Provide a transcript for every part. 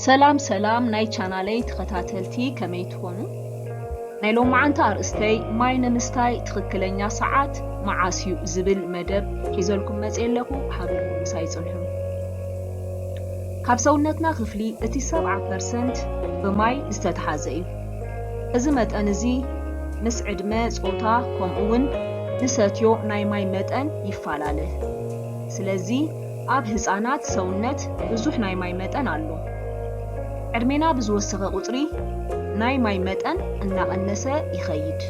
ሰላም ሰላም ናይ ቻናለይ ተኸታተልቲ ከመይ ትኾኑ? ናይ ሎማዓንቲ ኣርእስተይ ማይ ንምስታይ ትኽክለኛ ሰዓት መዓስ እዩ ዝብል መደብ ሒዘልኩም መፀ ኣለኹ ሓቢርኩም ምሳይ ፅንሑ። ካብ ሰውነትና ክፍሊ እቲ ሰብዓ ፐርሰንት ብማይ ዝተትሓዘ እዩ። እዚ መጠን እዚ ምስ ዕድመ፣ ጾታ ከምኡውን ንሰትዮ ናይ ማይ መጠን ይፋላለ። ስለዚ ኣብ ህጻናት ሰውነት ብዙሕ ናይ ማይ መጠን ኣሎ። ዕድሜና ብዝወሰኸ ቁጽሪ ናይ ማይ መጠን እናቐነሰ ይኸይድ።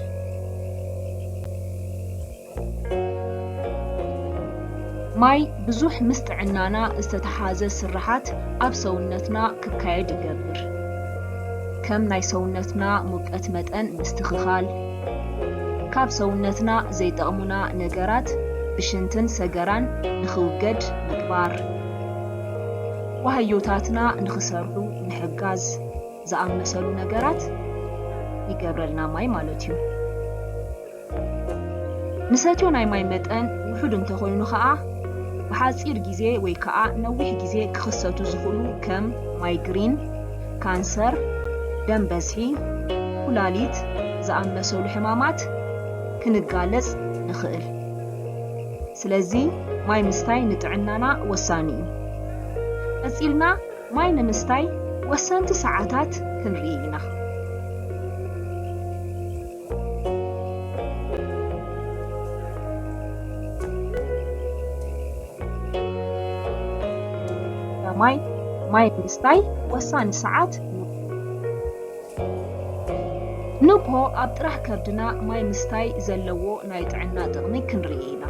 ማይ ብዙሕ ምስ ጥዕናና ዝተተሓሓዘ ስርሓት ኣብ ሰውነትና ክካየድ ይገብር። ከም ናይ ሰውነትና ሙቀት መጠን ምስትኽኻል፣ ካብ ሰውነትና ዘይጠቕሙና ነገራት ብሽንትን ሰገራን ንኽውገድ ምግባር፣ ዋህዮታትና ንኽሰርሑ ምሕጋዝ ዝኣመሰሉ ነገራት ይገብረልና ማይ ማለት እዩ። ንሰትዮ ናይ ማይ መጠን ውሑድ እንተኾይኑ ከኣ ብሓጺር ግዜ ወይ ከኣ ነዊሕ ግዜ ክኽሰቱ ዝኽእሉ ከም ማይግሪን፣ ካንሰር፣ ደም በዝሒ፣ ኩላሊት ዝኣመሰሉ ሕማማት ክንጋለጽ ንኽእል። ስለዚ ማይ ምስታይ ንጥዕናና ወሳኒ እዩ። ቀጺልና ማይ ንምስታይ ወሰንቲ ሰዓታት ክንርኢ ኢና። ማይ ማይ ምስታይ ወሳኒ ሰዓት ንግሆ ኣብ ጥራሕ ከብድና ማይ ምስታይ ዘለዎ ናይ ጥዕና ጥቕሚ ክንርኢ ኢና።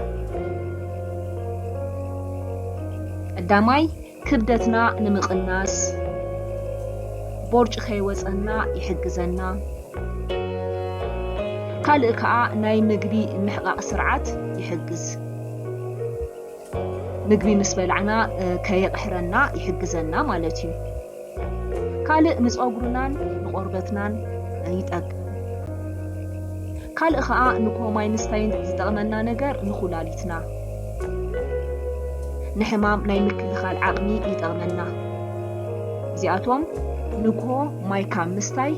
ቀዳማይ ክብደትና ንምቕናስ ቦርጭ ከይወፀና ይሕግዘና። ካልእ ከዓ ናይ ምግቢ ምሕቓቕ ስርዓት ይሕግዝ። ምግቢ ምስ በላዕና ከየቕሕረና ይሕግዘና ማለት እዩ። ካልእ ንጸጉርናን ንቆርበትናን ይጠቅም። ካልእ ከኣ ንኩሆ ማይ ምስታይ ዝጠቅመና ነገር ንኩላሊትና ንሕማም ናይ ምክልኻል ዓቅሚ ይጠቅመና። እዚኣቶም ንኩሆ ማይ ካብ ምስታይ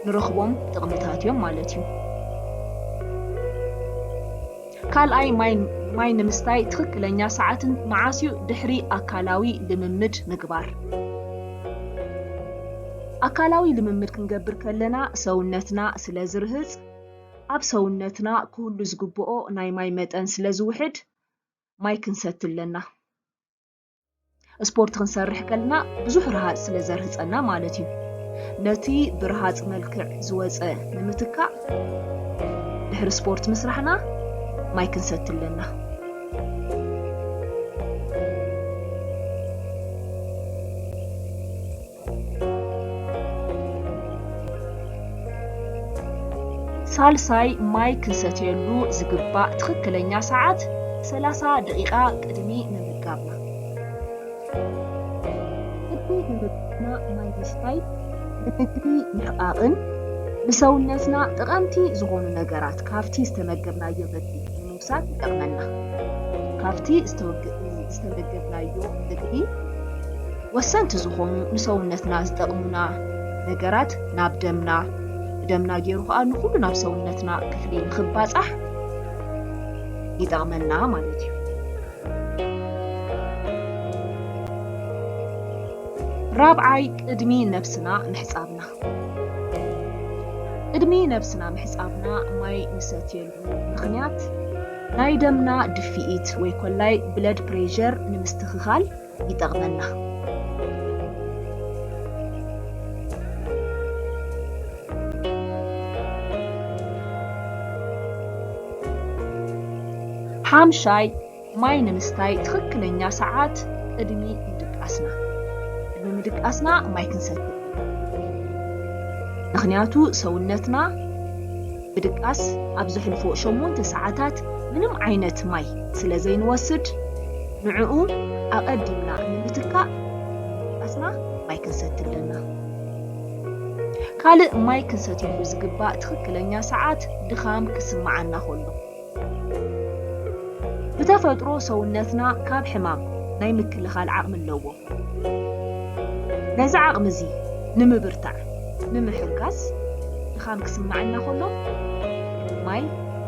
ንረኽቦም ጥቅምታት እዮም ማለት እዩ። ካልኣይ ማይ ንምስታይ ትኽክለኛ ሰዓትን መዓስ እዩ ድሕሪ ኣካላዊ ልምምድ ምግባር። ኣካላዊ ልምምድ ክንገብር ከለና ሰውነትና ስለ ዝርህፅ ኣብ ሰውነትና ክህሉ ዝግብኦ ናይ ማይ መጠን ስለ ዝውሕድ ማይ ክንሰቲ ኣለና። ስፖርት ክንሰርሕ ከልና ብዙሕ ረሃፅ ስለ ዘርህፀና ማለት እዩ ነቲ ብረሃፅ መልክዕ ዝወፀ ንምትካእ ድሕሪ ስፖርት ምስራሕና ማይ ክንሰቲ ኣለና ሳልሳይ፣ ማይ ክንሰትየሉ ዝግባእ ትኽክለኛ ሰዓት ሰላሳ ደቒቓ ቅድሚ ምምጋብና። ቅድሚ ምምጋብና ማይ ምስታይ ንምግቢ ምሕቓቕን ንሰውነትና ጠቐምቲ ዝኾኑ ነገራት ካብቲ ዝተመገብናዮ ምግቢ ቅዱሳን ይጠቕመና። ካብቲ ዝተመገብናዮ ምግቢ ወሰንቲ ዝኾኑ ንሰውነትና ዝጠቕሙና ነገራት ናብ ደምና ብደምና ገይሩ ከዓ ንኹሉ ናብ ሰውነትና ክፍሊ ንክባፃሕ ይጠቕመና ማለት እዩ። ራብዓይ ቅድሚ ነብስና ምሕፃብና ቅድሚ ነብስና ምሕፃብና ማይ ንሰትየሉ ምኽንያት ናይ ደምና ድፍኢት ወይ ኮላይ ብለድ ፕሬዠር ንምስትኽኻል ይጠቕመና። ሓምሻይ፣ ማይ ንምስታይ ትኽክለኛ ሰዓት ቅድሚ ምድቃስና ቅድሚ ምድቃስና ማይ ክንሰቲ ምክንያቱ ሰውነትና ምድቃስ ኣብ ዘሕልፎ ሸሞንተ ሰዓታት ምንም ዓይነት ማይ ስለ ዘይንወስድ ንዕኡ ኣቐዲምና ንምትካእ ምድቃስና ማይ ክንሰቲ ኣለና። ካልእ ማይ ክንሰትየሉ ዝግባእ ትኽክለኛ ሰዓት ድኻም ክስምዓና ከሎ ብተፈጥሮ ሰውነትና ካብ ሕማም ናይ ምክልኻል ዓቕሚ ኣለዎ። ነዚ ዓቕሚ እዚ ንምብርታዕ፣ ንምሕጋዝ፣ ድኻም ክስመዓና ከሎ ማይ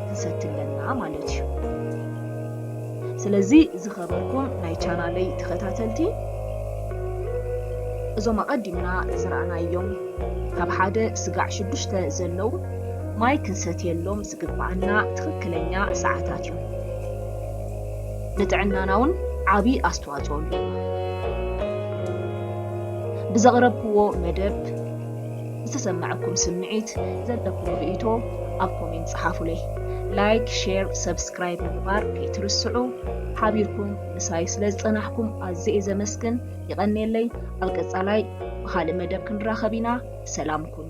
ክንሰቲ ኣለና ማለት እዩ። ስለዚ ዝኸበርኩም ናይ ቻናለይ ተኸታተልቲ እዞም ኣቐዲምና ዝረኣናዮም ካብ ሓደ ስጋዕ ሽዱሽተ ዘለው ማይ ክንሰትየሎም ዝግብኣና ትኽክለኛ ሰዓታት እዩ። ንጥዕናና እውን ዓብዪ ኣስተዋፅኦ ኣለዎ። ብዘቕረብክዎ መደብ ዝተሰመዐኩም ስምዒት፣ ዘለኩም ርእይቶ ኣብ ኮሜንት ፀሓፉለይ። ላይክ፣ ሼር፣ ሰብስክራይብ ምግባር ከይትርስዑ። ሓቢርኩም ምሳይ ስለ ዝፀናሕኩም ኣዝየ እየ ዘመስግን። ይቐንየለይ። ኣብ ቀፃላይ ብኻልእ መደብ ክንራኸብ ኢና። ሰላም ኩኑ።